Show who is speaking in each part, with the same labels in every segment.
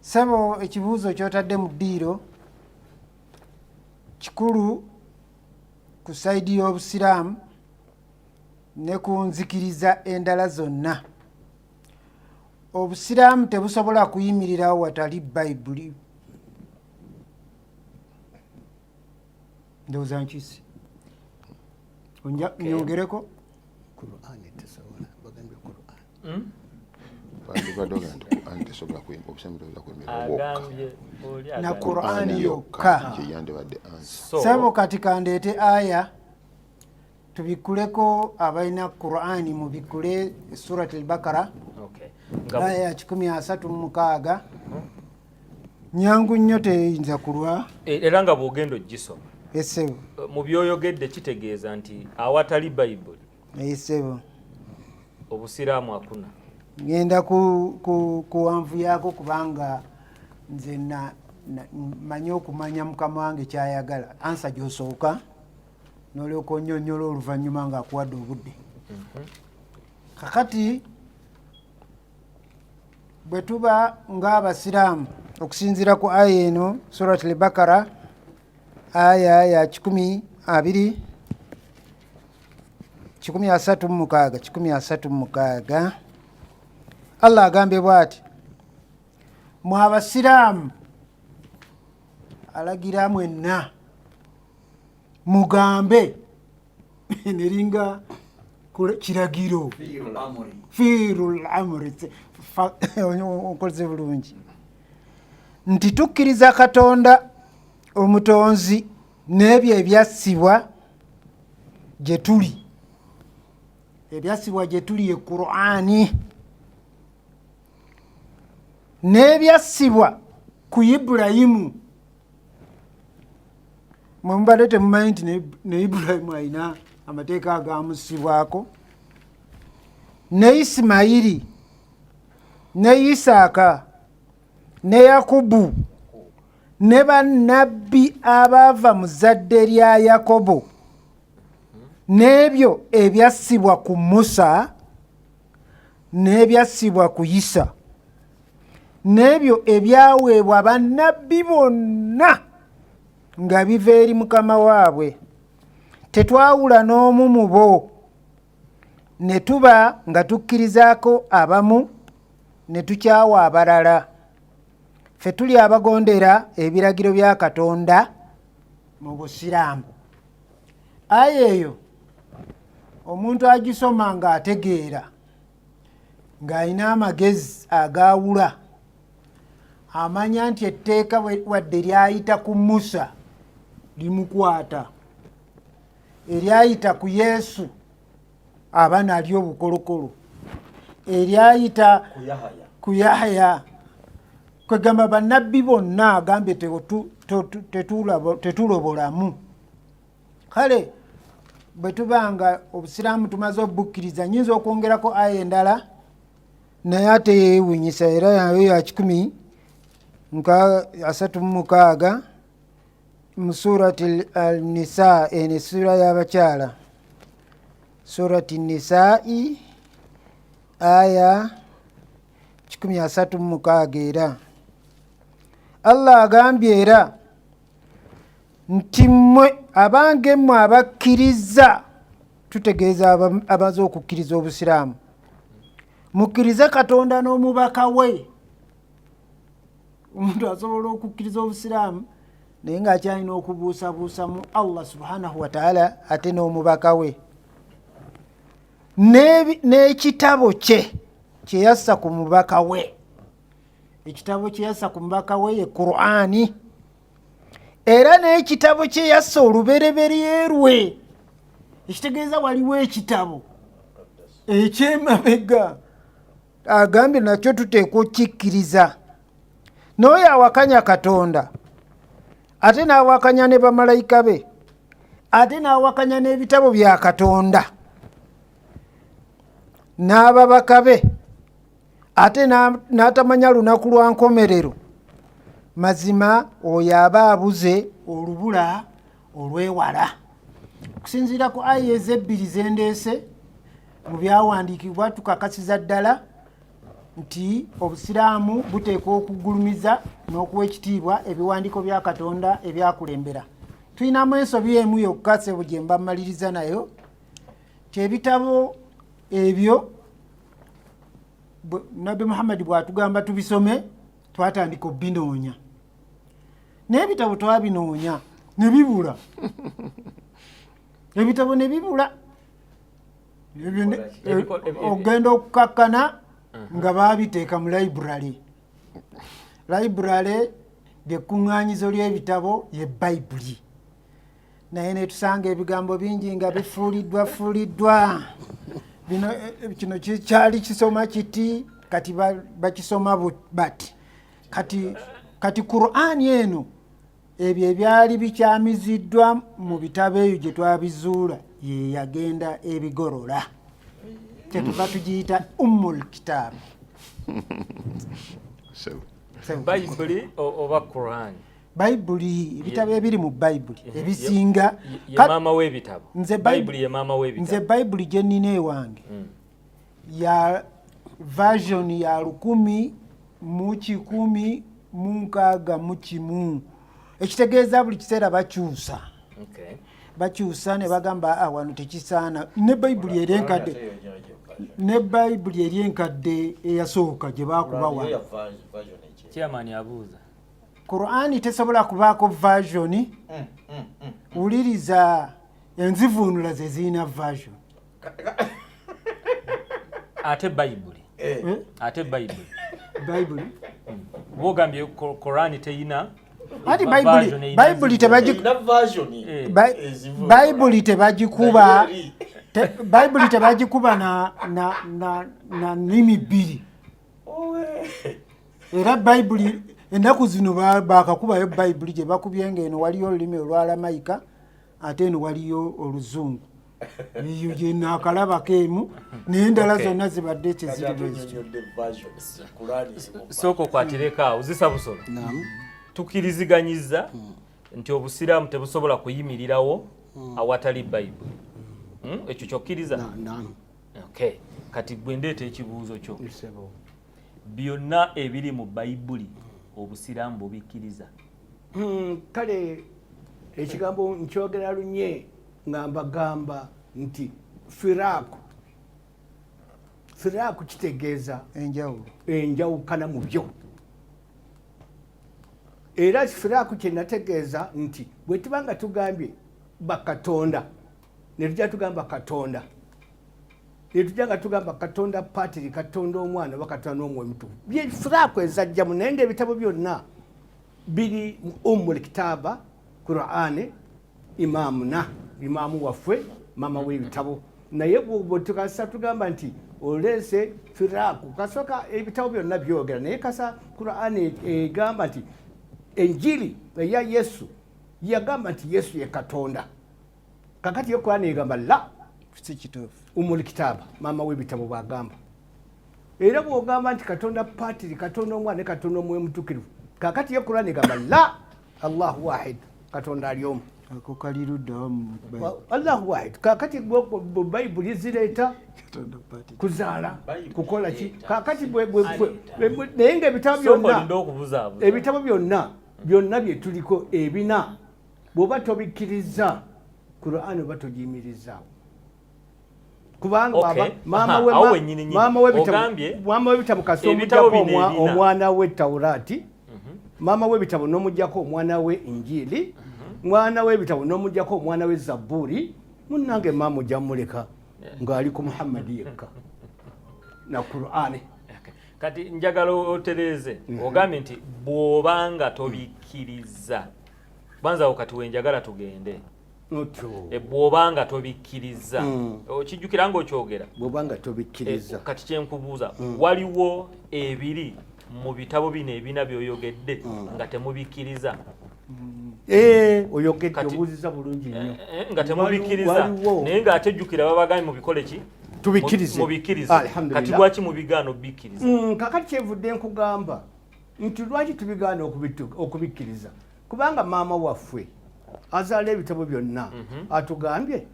Speaker 1: sebo ekibuuzo kyotadde mu ddiiro kikulu ku saidi y'obusiraamu ne ku nzikiriza endala zonna obusiraamu tebusobola kuyimirirawo watali bayibuli ndowooza nkisi nyongereko na qurani yokka sebo kati kandeete aya tubikuleko abalina qurani mubikule surat albakara aya ya kikumi asatu mumukaaga hmm. nyangu nnyo teyinza kulwa e, era nga bwogenda
Speaker 2: ogisoma esebo
Speaker 1: mu byoyogedde
Speaker 2: kitegeeza nti awatali bayibuli esebo obusiraamu akuna ngenda
Speaker 1: kuwanvu yaako kubanga nze manyi okumanya mukama wange kyayagala ansa gyosooka nolyoka onyonyola oluvanyuma nga akuwadde obudde mhm. kakati bwe tuba ng'abasiraamu okusinziira ku aya eno surat lbakara aya ya kikumi abiri kikumi asatu mu mukaaga kikumi asatu mu mukaaga allah agambye bwati mwe abasiraamu alagira mwenna mugambe neringa kiragiro fiirul amuri okoleze bulungi nti tukkiriza katonda omutonzi n'ebyo ebyassibwa gye tuli ebyassibwa gye tuli e qurani n'ebyassibwa ku ibulayimu mwe mubadde temumanyi nti ne ibulayimu alina amateeka agamusibwako ne isimayiri ne isaaka ne yakubu ne bannabbi abaava mu zadde lya yakobo n'ebyo ebyassibwa ku musa n'ebyassibwa ku yisa n'ebyo ebyaweebwa bannabbi bonna nga biva eri mukama waabwe tetwawula n'omu mu bo ne tuba nga tukkirizaako abamu ne tukyawa abalala fe tuli abagondera ebiragiro bya katonda mu busiraamu aya eyo omuntu agisoma ng'ategeera ng'alina amagezi agaawula amanya nti etteeka wadde lyayita ku musa limukwata eryayita ku yesu aba nalyo obukolokolo eryayita ku yahaya kwegamba banabbi bonna agambye tetulobolamu kale bwe tuba nga obusiraamu tumaze obukkiriza nyinza okwongerako aya endala naye ate yewunyisa era nayo ya kikumi nka asatu mumukaaga mu surati alnisa eno essuula y'abakyala surati nisai aya 136 era allah agambye era nti mmwe abange mmwe abakkiriza tutegeeza abaza okukkiriza obusiraamu mukkirize katonda n'omubaka we omuntu asobola okukkiriza obusiraamu naye ngaakyalina okubuusabuusa mu allah subhanahu wataala ate n'omubaka we n'ekitabo kye kyeyassa ku mubaka we ekitabo kyeyassa ku mubaka we ye qurani era n'ekitabo kyeyassa olubereberye lwe ekitegeeza waliwo ekitabo ekyemabega agambye nakyo tuteekwa okukikkiriza n'oyo awakanya katonda ate n'awakanya ne bamalayika be ate n'awakanya n'ebitabo bya katonda n'ababaka be ate n'atamanya lunaku lwa nkomerero mazima oyo aba abuze olubula olwewala okusinziira ku aya ezebbiri zendeese mu byawandiikibwa tukakasiza ddala nti obusiraamu buteekwa okugulumiza n'okuwa ekitiibwa ebiwandiiko bya katonda ebyakulembera tulinamu ensobi emu yokka sebo gye mba mmaliriza nayo kyebitabo ebyo nabbi muhammadi bwatugamba tubisome twatandika obinoonya naye ebitabo twabinoonya ne bibula ebitabo ne bibula ogenda okukakkana uh-huh. nga baabiteeka mu library library lyekkuŋŋaanyizo ly'ebitabo ye bayibuli naye netusanga ebigambo bingi nga bifuuliddwa fuuliddwa bino eh, kino kyali kisoma kiti kati bakisoma bati kati kati qurani eno ebyo ebyali bikyamiziddwa mu bitabo eyo gye twabizuula ye yagenda ebigorola kyetuva tugiyita ummul kitaabu
Speaker 2: bayibuli oba qurani bayibuli ebitabo ebiri mu
Speaker 1: bayibuli ebisinga
Speaker 2: nze bayibuli gye nnina
Speaker 1: ewange mm. ya version ya lukumi mu kikumi mu nkaaga mu kimu ekitegeeza buli kiseera bakyusa okay. bakyusa ne bagamba ah, wano tekisaana ne bayibuli eri enkadde ne bayibuli eri enkadde eyasooka gye baakubawa chairman
Speaker 2: abuuza qurani
Speaker 1: tesobola kubaako vasioni mm, mm, mm, wuliriza enzivuunula ze zirina vasioni
Speaker 2: ate bayibuli eh. hmm? ate bayibuli bayibuli bogambye korani teyina ati
Speaker 1: bayibuli tebagikubabayibuli tebagikuba bayibuli tebagikuba na nimi bbiri era bayibuli ennaku zino bakakubayo bayibuli gye bakubye nga eno waliyo olulimi olwalamayika ate eno waliyo oluzungu eyo gyenaakalabako emu nendala zonna zibadde kyezirisooko
Speaker 2: kwatirekaawo zisa busolo tukiriziganyiza hmm. nti obusiraamu tebusobola kuyimirirawo hmm. awatali bayibuli hmm? ekyo kyokkiriza kati gwe ndeeta ekibuuzo kyo byonna ebiri mu bayibuli obusiraamu bubikkiriza hmm,
Speaker 3: kale ekigambo nkyogera lunye nga mbagamba nti firaaku firaaku kitegeeza enjawulo enjawukana mu byo era firaaku kyenategeeza nti bwe tuba nga tugambye bakatonda netujja tugamba katonda netujja nga tugamba katonda patiri katonda omwana oba katonda n'omwoyo mutukuvu byefuraku ezajjamu naye nga ebitabo byonna biri mu ummul kitaaba qurani imaamuna imaamu waffe maama w'ebitabo naye bwetukasa tugamba nti oleese firaaku kasooka ebitabo byonna byogera naye kasa qurani egamba nti enjiri eya yesu yagamba nti yesu ye katonda kakati yo kurani egamba la
Speaker 1: umul kitaba
Speaker 3: maama webitabo bwagamba era bwogamba nti katonda patiri katonda omwana ne katonda omwoyo mutukirivu kakati yo kurani egamba la allahu wahid katonda ali omu
Speaker 1: allahu wahid
Speaker 3: kakati bayibuli zireeta kuzaala kukola ki kakati naye nga ebitabo byonna ebitabo byonna byonna byetuliko ebina bwoba tobikkiriza qurani oba togiyimirizaawo kubangamaama webitabo kasi omujako omwana we taurati mhm. maama webitabo nomujako omwana we injili mhm. mwana webitabo nomujako omwana we zaburi munange maama ojja muleka ngaali ku muhammadi yekka na qurani kati
Speaker 2: njagala otereeze mm-hmm. ogambye nti bwobanga tobikkiriza banza awo kati wenjagala tugende e, bwoba nga tobikkirizza mm. okijjukira nga okyogera bwoba nga tobikkirizza
Speaker 3: e, kati kyenkubuuza
Speaker 2: mm. waliwo ebiri mu bitabo bino ebina byoyogedde mm. nga temubikkiriza Eh,
Speaker 3: oyogedde obuuziza bulungi nnyo eh, eh, nga temubikkiriza
Speaker 2: naye ng'atejjukira babagambye mubikole ki tubikkirize mubikkirize kati lwaki mubigaana obikkiriza mm, kakati kyevudde
Speaker 3: nkugamba nti lwaki tubigaana okubikkiriza kubanga maama waffe azaala ebitabo byonna mhm. atugambye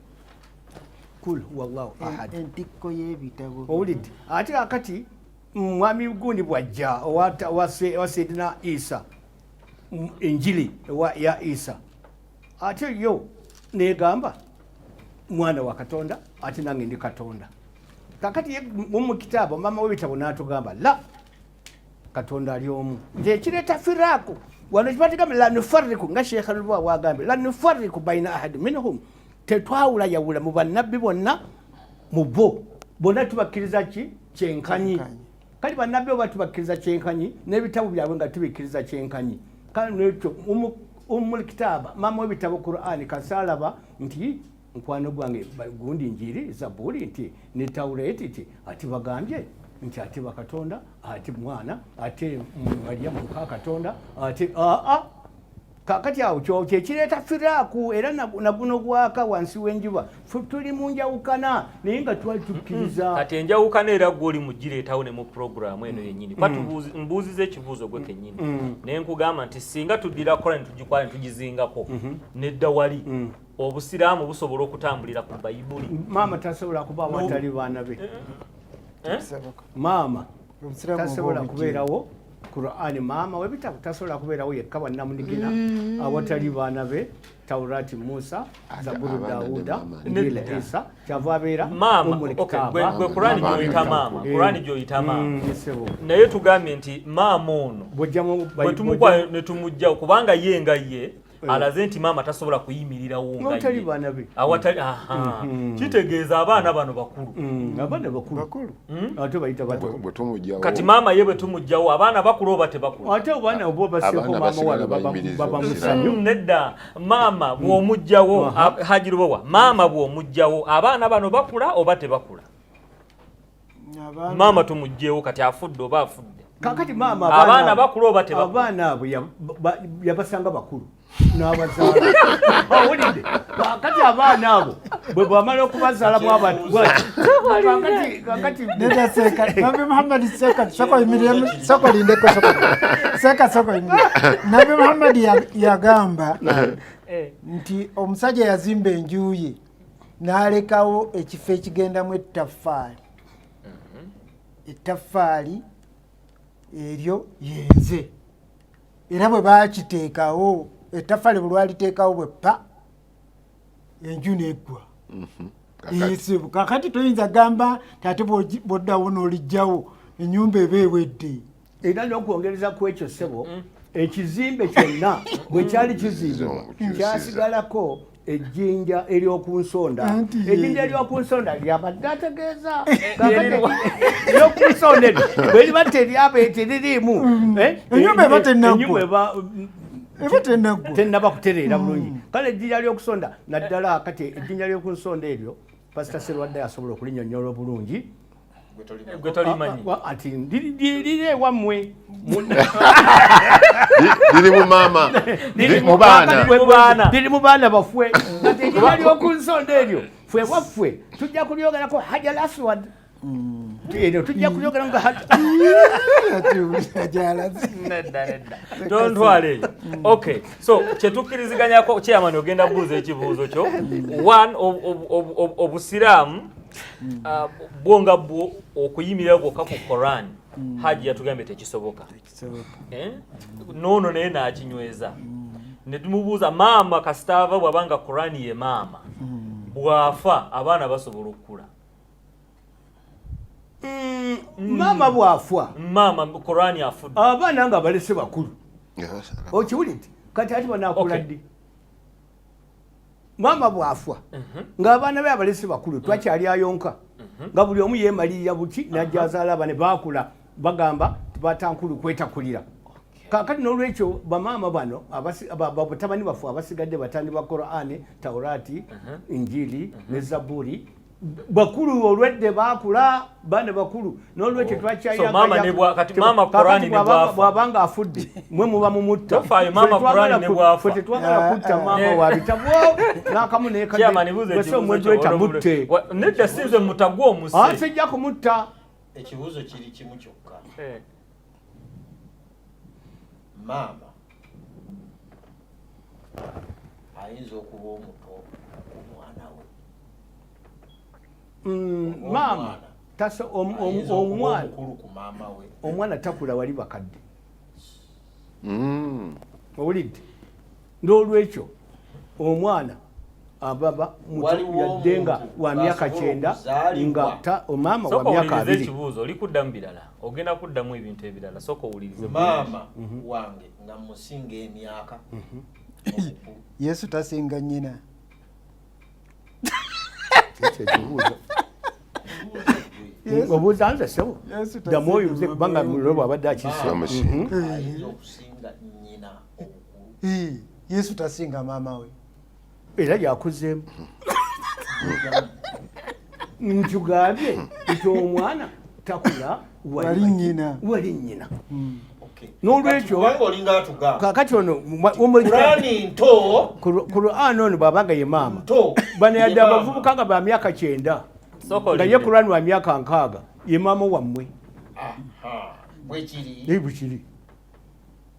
Speaker 3: kul wallahu ahad entikko y'ebitabo
Speaker 1: owulidde ate
Speaker 3: kakati mwami gundi bwajja owa sayidina isa enjiri ya isa ate yo negamba mwana wa katonda ate nange ndi katonda kakati mumukitaabo maama w'ebitabo n'atugamba la katonda ali omu nti ekireeta firaku wano kibatigamu lanufariku nga sheekha lubwa wagambye lanufariku baina ahadi minhum tetwawula yawula mu bannabbi bonna mu bo bonna tubakkiriza ki kyenkanyi kali bannabbi oba tubakkiriza kyenkanyi n'ebitabo byabwe nga tubikkiriza kyenkanyi kale nekyo umul kitaaba mama w'ebitabo qurani kasalaba nti mukwano gwange gundi njiri zabuli nti ne taureti ti ati bagambye nti ate bakatonda ate mwana ate maria muka katonda ate aa kakati awo kyo kyekireeta firaaku era naguno gwaka wansi w'enjuba tuli mu njawukana naye nga twali tukkiriza mm-hmm. kati enjawukana era
Speaker 2: gwe oli mugireetawo ne mu puroguramu eno yennyini kuba mm-hmm. mbuuziza ekibuuzo gwe kennyini mm-hmm. naye nkugamba nti singa tuddira kola ne tugikwala ne tugizingako nedda wali obusiraamu busobola okutambulira ku bayibuli maama tasobola kuba
Speaker 3: watali baana be eh? Eh? maama tasobola kubeerawo qurani maama webitabu tasobola kubeerawo yekka bwannamunigina mm. awatali baana be taurati musa zaburu dauda njila isa kyava abeera umulikitaabagwekurani
Speaker 2: gyoyita maama kurani eh. gyoyita maama mm, naye tugambye nti maama ono bwetumukwaa netumugjawo kubanga ye nga ye Eh. alaze nti maama tasobola kuyimirirawo ngaawatali mm-hmm. kitegeeza abaana bano bakulu mm, abaana
Speaker 3: bakulu hmm? ate bayita kati maama
Speaker 2: ye bwe tumugjawo abaana bakulu oba tebakulu ate abaana oba
Speaker 3: baseeko maama wano baba musanyu hmm, nedda
Speaker 2: maama hmm. bw'omugjawo hajirubowa maama bw'omugjawo abaana bano bakula oba tebakula maama tumugyewo kati afudde oba afudde kakati maama
Speaker 3: abaana bakulu oba
Speaker 2: abaana abo
Speaker 3: yabasanga bakulu n'abazaalaawulidde kakati abaana abo bwe bwamala okubazaala bwabakatimuhammadi
Speaker 1: seka sokoyimiremu sokolindeko seka sokoyimire nabi muhammadi yagamba eh. nti omusajja yazimba enjuye n'alekawo ekifo ekigendamu ettaffaali mm-hmm. ettaffaali eryo yenze era bwe bakiteekawo ettaffaali bwe lwaliteekawo bwe pa enju neggwa mm-hmm. esibu kakati toyinza gamba tate bwoddawo n'olijjawo enyumba eba ewedde era n'okwongereza
Speaker 3: ku ekyo ssebo mm. ekizimbe kyonna bwe kyali kizimbibwa kyasigalako ejjinja ery'oku nsonda ejjinja ery'oku nsonda lyabadde ategeeza ery'oku nsonda eryo bwe liba teryaba etiririimu mm. eh, enyumba
Speaker 1: eba tenaggwa eba
Speaker 3: tenaggwa tenaba kutereera bulungi mm. kale ejjinja ly'okusonda naddala kati ejjinja ly'oku nsonda eryo Pastor Serwadde asobola okulinyonyola obulungi gwe
Speaker 2: tolimanyi ah, ah, ah, ati liri
Speaker 3: ewammwe
Speaker 4: liri mu maama liri mu baana
Speaker 3: liri mu baana bafwe kati ekiba ly'oku nsonda eryo fwe waffe tujja kulyogerako hajal aswad Mm. Eno tujja kuyogera nga
Speaker 2: tontwale mm. okay so kyetukkiriziganyako chairman ogenda buuza ekibuuzo kyo mm. one obusiraamu mm. uh, bwo nga bwo okuyimirira bwokka ku koran haji yatugambye tekisoboka eh? noono naye nakinyweza netumubuuza maama kasitaava bwabanga korani ye maama bwafa abaana basobola okukula
Speaker 3: mm, mm. maama
Speaker 2: bwafwa
Speaker 3: maama
Speaker 2: korani afudde
Speaker 3: abaana nga balese
Speaker 2: bakulu
Speaker 3: okiwuli nti kati ati banakula ddi maama bwafwa mhm. ng'abaana be abalese bakulu twakyali ayonka mhm. nga buli omu yemalirira buki najja azaala abane baakula bagamba batankulu kwetakulira kakati nolwekyo bamaama bano batabani baffe abasigadde batandi ba korani taurati injili ne zaburi bakulu olwedde bakula bana bakulu nolwekyo oh. twakyayabwabanga
Speaker 2: afudde
Speaker 3: mwe muba mumuttatetwagala
Speaker 2: kutta ah, maama
Speaker 3: eh. wabitabwo nakamu nekadweta
Speaker 2: mutte
Speaker 3: nedda sinze
Speaker 2: mutagwa omusijja kumutta
Speaker 3: ekibuuzo kiri
Speaker 4: kimu kyokka eh. maama ayinza okuba omuto ku mwana we mm, maama
Speaker 3: omwana omwana takula wali bakadde mm. owulidde n'olwekyo omwana ababa yadde nga wa myaka kyenda nga omama wa myaka abiri ekibuuzo oli kuddamu birala
Speaker 2: ogenda kuddamu ebintu ebirala sooka owulirize maama mhm.
Speaker 4: wange nga musinga emyaka mhm.
Speaker 1: yesu tasinga nyina
Speaker 3: obuuza nze sebo ddamu oyo nze kubanga mulo bwabadde akise mhm.
Speaker 4: yesu tasinga
Speaker 1: maama we era
Speaker 3: yakuzeemu nkugambye nti omwana takula wali nyina
Speaker 1: wali nyina
Speaker 3: hmm. nolwekyo kakati ono kurani ono bwabanga ye maama bano yadde abavubuka nga ba myaka kyenda nga ye kurani wa myaka nkaaga ye maama wammwe bwekiri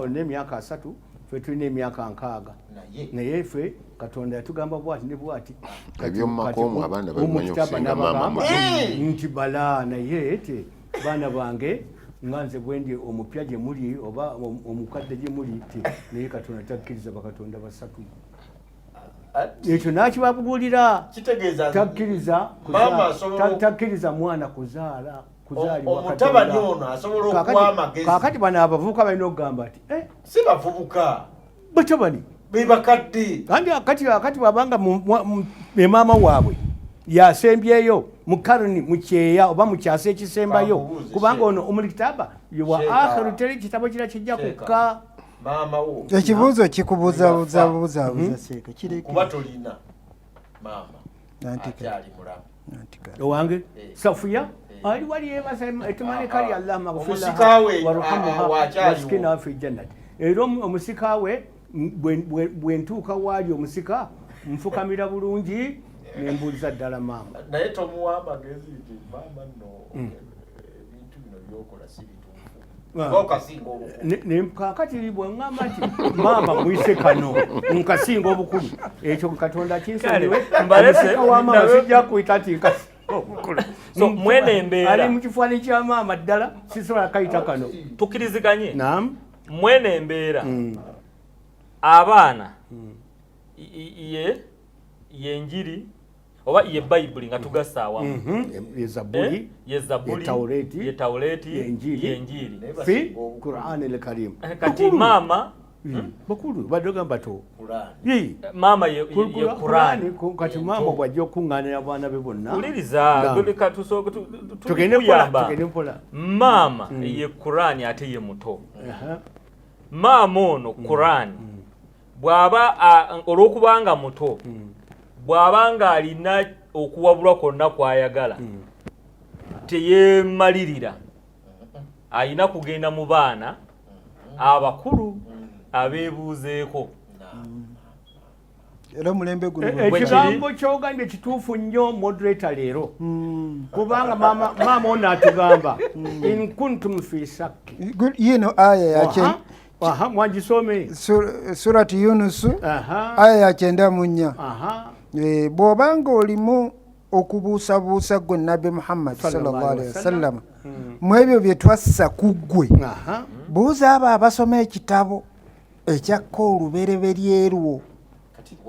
Speaker 3: olina emyaka asatu fe tulina emyaka nkaaga naye fe katonda yatugamba bwati ne bwati
Speaker 5: nti bala
Speaker 3: naye te baana bange nga nze bwendi omupya gye muli oba omukadde gye muli te naye katonda takkiriza bakatonda basatu ekyo nakibabuulira takkiriza mwana kuzaala omutabani
Speaker 4: ono asobola okuwa amagezi kakati bano abavubuka
Speaker 3: balina okugamba nti eh? si bavubuka
Speaker 4: batabani
Speaker 3: bebakadde
Speaker 4: kandi akati akati
Speaker 3: bwabanga emaama waabwe yasembyeyo mu karni mu kyeya oba mu kyasa ekisembayo kubanga ono omulikitaba wa akhiru teri kitabo kira kijja kukka
Speaker 4: ekibuuzo
Speaker 1: kikubuzabuzabuzabuza mhm. seeka kirekuba tolina
Speaker 4: maama akyali mulamu owange
Speaker 3: eh. safuya eh. ali wali yebaza etimane kali allah
Speaker 4: maghfirwarhamhawasikina
Speaker 3: wafe jannat era omusika we bwentuuka waali omusika nfukamira bulungi nembuuliza ddala maama naye tomuwa
Speaker 4: amagezi nti maama no hmm. ebintu bino byokola sibituufu kakati bwengamba
Speaker 3: nti maama mwise kano nkasinga obukulu ekyo katonda kinsonyiwemusika wa maama sijja kuyita nti nkasi obukulu so mwene
Speaker 2: embeera ali mu kifaani kya
Speaker 3: maama ddala sisobola kayita kano tukiriziganye
Speaker 2: nam
Speaker 3: mwene embeera
Speaker 2: mm. abaana mm. ye yenjiri oba ye bayibuli nga tugasa awamu mhm. eh? ye zabuli ye tawuleti ye njiiri eh,
Speaker 3: kati maama hmm?
Speaker 2: Hmm? bakulu
Speaker 3: badogamba to
Speaker 2: maama ye kurani kati eh, maama
Speaker 3: bwajja okukuŋŋaanira abaana be bonna uliriza
Speaker 2: tugende
Speaker 3: mpola maama hmm.
Speaker 2: ye kurani ate ye muto maama ono kurani bw'aba olw'okubanga muto hmm. bw'aba ng'alina okuwabulwa kwonna kw'ayagala hmm. teyeemalirira alina kugenda mu baana abakulu abeebuuzeeko
Speaker 1: era omulembe guno eh, eh, ekigambo kyogambye
Speaker 3: kituufu nnyo moderator leero hmm. kubanga maama ono atugamba hmm. in kuntum fi sakki yino aya
Speaker 1: yaki Aha,
Speaker 3: mwagisome Sur-
Speaker 1: surati yunusu Aha. aya ya kyenda mu nnya Aha. Eh, bw'oba ng'olimu okubuusabuusa ggwe nabbi muhammadi Sallallahu sallallahu alaihi alaihi wasallam. wasallama mu ebyo bye twassa ku ggwe Aha. buuza abo abasoma ekitabo ekyakka olubereberye lwo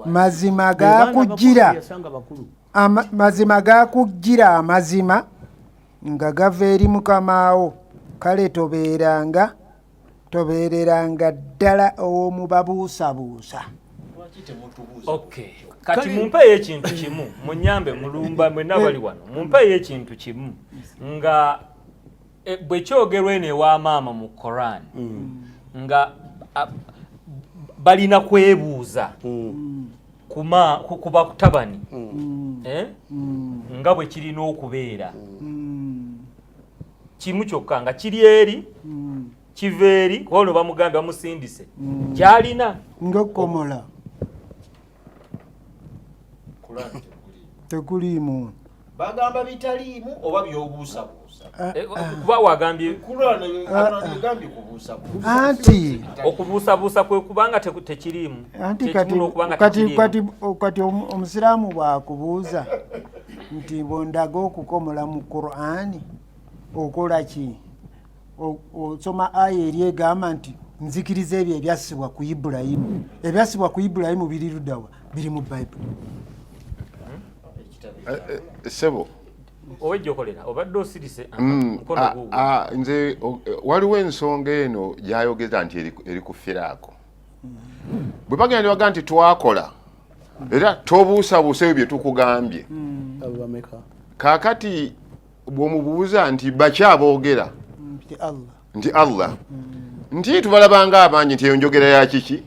Speaker 1: mazima Be baana bakulu gaakujjira yasanga bakulu ama- mazima gaakujjira amazima nga gava eri mukamaawo kale tobeeranga tobeereranga ddala ow'omu babuusabuusa
Speaker 2: kati mumpeeyo ekintu kimu munyambe mulumba mwena bali wano mumpeeyo ekintu kimu nga e, bwe kyogerwa eno ewa maama mu koran mm. nga balina kwebuuza mm. ku bakutabani mm. eh? nga bwe kirina okubeera kimu kyokka nga kiri eri mm. kiva eri kuba ono bamugambye bamusindise mm. gyalina ngaokukomola
Speaker 1: tekuliimu bagamba
Speaker 6: bitaliimu oba byobuusabuusa ah, eh, ah. kuba
Speaker 2: wagambye ah,
Speaker 1: anti okubuusabuusa
Speaker 2: kwe kubanga tekiriimu anti
Speaker 1: kati omusiraamu bwakubuuza nti bwondaga okukomola mu qurani okola ki osoma aya eri egamba nti nzikiriza ebyo ebyassibwa ku ibulayimu ebyassibwa ku ibulayimu biri ludawa biri mu bayibuli eh,
Speaker 5: eh, eh, sebo owejokolera
Speaker 2: obadde osirise mm,
Speaker 5: nze waliwo ensonga eno gyayogeza nti eri ku firaako bwe bagenda baga nti twakola era tobuusabuusa ebyo bye tukugambye hmm. kaakati bw'omubuuza nti baki aboogera hmm, nti allah hmm. nti tubalabanga abangi nti eyo njogera ya kiki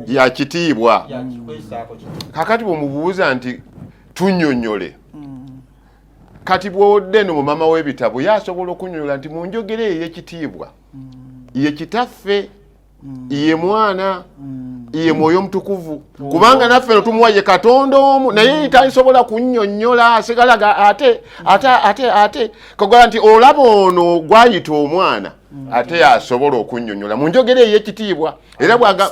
Speaker 5: ya kitiibwa kaakati bw'omubuuza nti tunyonyole kati bw'odde no mu mama w'ebitabo yasobola okunyonyola nti mu njogera eyo ey'ekitiibwa ye kitaffe mm. ye mwana mm. ye mwoyo omutukuvu mm. kubanga naffe no tumuwa ye katonda omu naye talisobola kunyonyola asigalaga ate ate ate ate kagala nti olaba ono gwayita omwana ate yasobola okunyonyola mu njogera ey'ekitiibwa era bwaga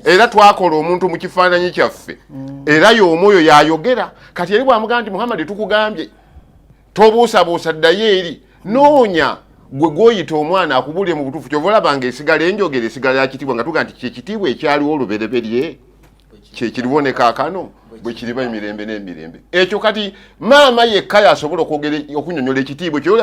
Speaker 5: era twakola omuntu mu kifaananyi kyaffe era y'omu oyo yayogera kati eri bwamugamba nti muhammadi tukugambye tobuusabuusa ddayo eri noonya gwe gwoyita omwana akubuulire mu butuufu kyova olabanga esigala enjogera esigala yakitiibwa nga tuga nti kyekitiibwa ekyaliwo olubereberye kyekiriwo ne kaakano bwe kiriba emirembe n'emirembe ekyo kati maama yekka yasobola okwogera okunyonyola ekitiibwa ekyo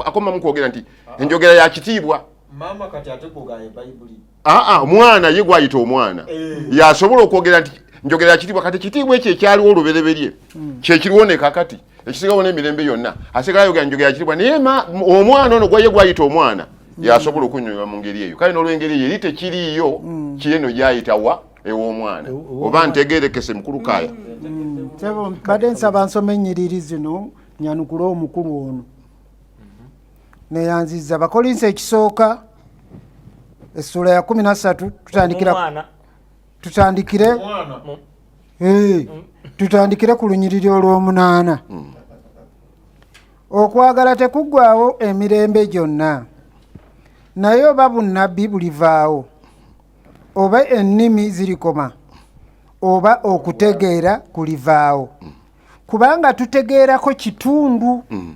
Speaker 5: akomamu kwogera nti enjogera ya kitiibwa maama kati ate kugaya bayibuli aa ah, ah, omwana ye gwayita omwana eh. yasobola okwogera nti njogera kitiibwa kati kitiibwa ekyo ekyaliwo olubereberye hmm. kyekiriwo ne kakati ekisigawo n'emirembe yonna asigala ayogera njogera kitiibwa naye omwana ono gwaye gwayita omwana hmm. yasobola okunyonyola mu ngeri eyo kale n'olwengeri eyo eri tekiriiyo hmm. kieno gyayitawa ew'omwana oba ntegerekese mukulu kaaya
Speaker 1: mbadde nsaba nsoma ennyiriri zino nyanukule omukulu ono neyanziza bakolinsi ekisooka essuula ya kumi nasatu tutandikira tutandikire mm. tutandikire ku lunyiriri olw'omunaana mm. okwagala tekuggwawo emirembe gyonna naye oba bunnabbi bulivaawo oba ennimi zirikoma oba okutegeera kulivaawo mm. kubanga tutegeerako kitundu mm.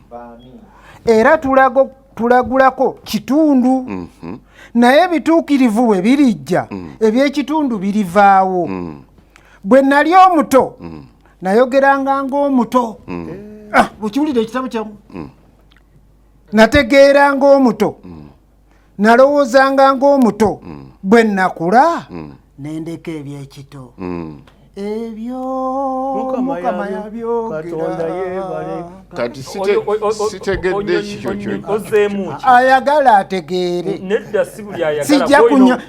Speaker 1: era tulago tulagulako kitundu mm -hmm. naye ebituukirivu bwe birijja mm. ebyekitundu birivaawo mm. bwe nali omuto mm. nayogeranga ngaomuto mm. ah, bwekiwulira ekitabo kyamu mm. nategeeranga omuto mm. nalowoozanga ng'omuto mm. bwe nakula mm. nendeka ebyekito mm. ebyo mukama yabyogeraati
Speaker 5: sitegedde ekikyo kyo
Speaker 1: ayagala ategeere
Speaker 2: sijja kunywa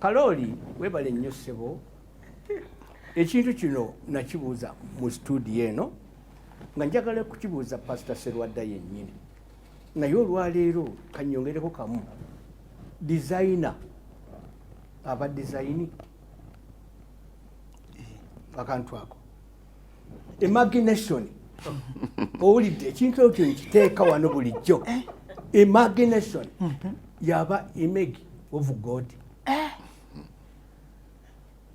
Speaker 3: Kalooli webale nnyo ssebo ekintu kino nakibuuza mu studio eno nga njagala kukibuuza pasita serwadda yennyini naye olwaleero kanyongereko kamu dizayina aba dizayini akantu ako imagination owulidde ekintu ekyo nkiteeka wano bulijjo eh? imagination mhm. yaba image of god eh?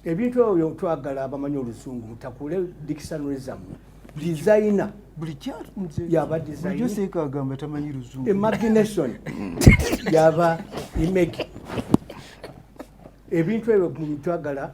Speaker 3: ebintu ebyo twagala abamanyi olusungu mutakule dictionary zammwe designer yaba imagination yaba image ebintu ebyo twagala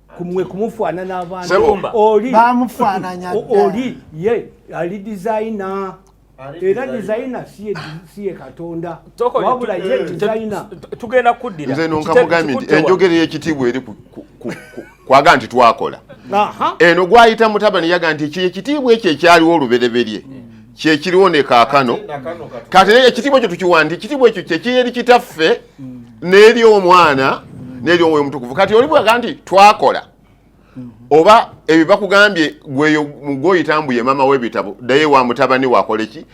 Speaker 3: kumwe kumufaana n'abantu oli bamufaananya oli ye ali dizayina era dizayina si ye katonda wabula ye eh, dizayina tugenda kuddira
Speaker 2: nze nonkakugambye nti
Speaker 5: enjogera ey'ekitiibwa eri kwaga nti twakola eno gwayita mutabani yaga nti ekyo ekitiibwa ekyo ekyaliwo olubereberye kyekiriwo ne kaakano kati naye ekitiibwa ekyo tukiwandi ekitiibwa ekyo kyekiri eri kitaffe n'eri omwana n'eri omwoyo omutukuvu kati oli bwaga nti twakola oba ebyo bakugambye gweyo gwoyita mbuye maama w'ebitabo daye wa mutabani wakola eki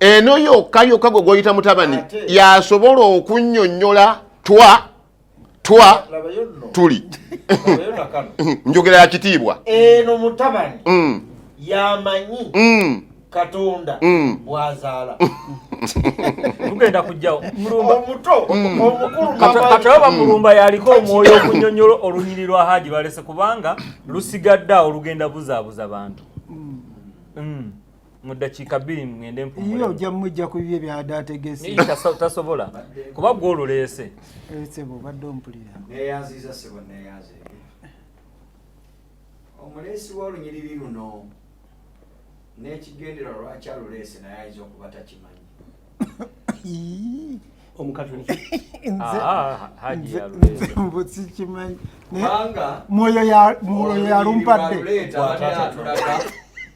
Speaker 5: eno yokka yokka gwe gwoyita mutabani yasobola okunnyonnyola twa twa tuli njogera ya kitiibwa eno mutabani
Speaker 6: mm. yamanyi mm. katonda mm. bwazaala
Speaker 2: tugenda kujjawo
Speaker 6: omutokatoba bamulumba
Speaker 2: yaliko omwoyo okunyonyola olunyiri lwa haji balese kubanga lusigadde awo lugenda buzaabuza bantu mu ddakiika bbiri ngende mpumule ojja mujja ku bibye
Speaker 1: byada ategese tasobola
Speaker 2: kuba gwe oluleese sebo obadde
Speaker 1: ompulira neyanziza sebo
Speaker 7: neyanze omuleesi w'olunyiriri luno n'ekigendera lwaki
Speaker 3: aluleese naye
Speaker 2: ayinza okuba takimanyi
Speaker 7: mwoyo
Speaker 1: yalumpadde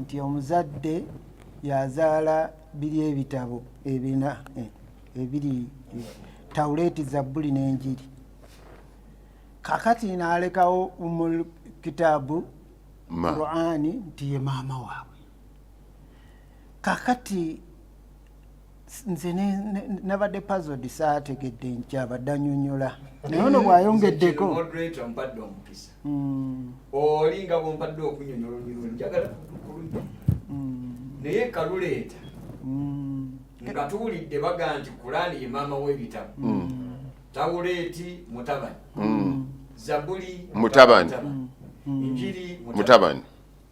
Speaker 1: nti omuzadde yazaala biri ebitabo ebina eh, ebiri eh, tawuleti zabbuli n'enjiri kakati nalekawo mu kitaabu qurani nti ye maama waabwe kakati nze nabadde pazod saategedde nkyabadde anyonyola naye ono bwayongeddeko hmm.
Speaker 7: oli nga bwompadde okunyonyola onyonyola njagala kulungi hmm. naye kaluleeta hmm. nga tuwulidde baga nti kulaani ye maama w'ebitabo tawuleeti mutabani zabuli mutabani
Speaker 5: njiri
Speaker 7: mutabani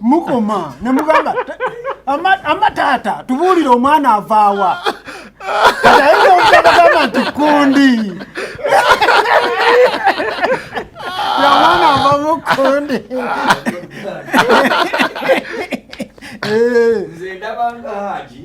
Speaker 1: mukoma ne mugamba ama taata tubuulire omwana avaawa kataeogamba nti kundi omwana avamu kundi
Speaker 7: eh. nze ndabanga haji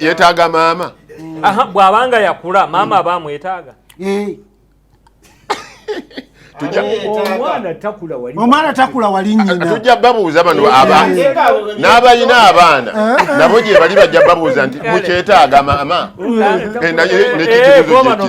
Speaker 5: yetaaga maama bwabanga
Speaker 2: yakula maama aba amwetaaga eh.
Speaker 3: omwana takula wali nyinatujja babuuza bano eh.
Speaker 5: abantu eh. n'abalina abaana nabo gye bali bajja babuuza nti mukyetaaga maama naye
Speaker 2: nekitibuzokale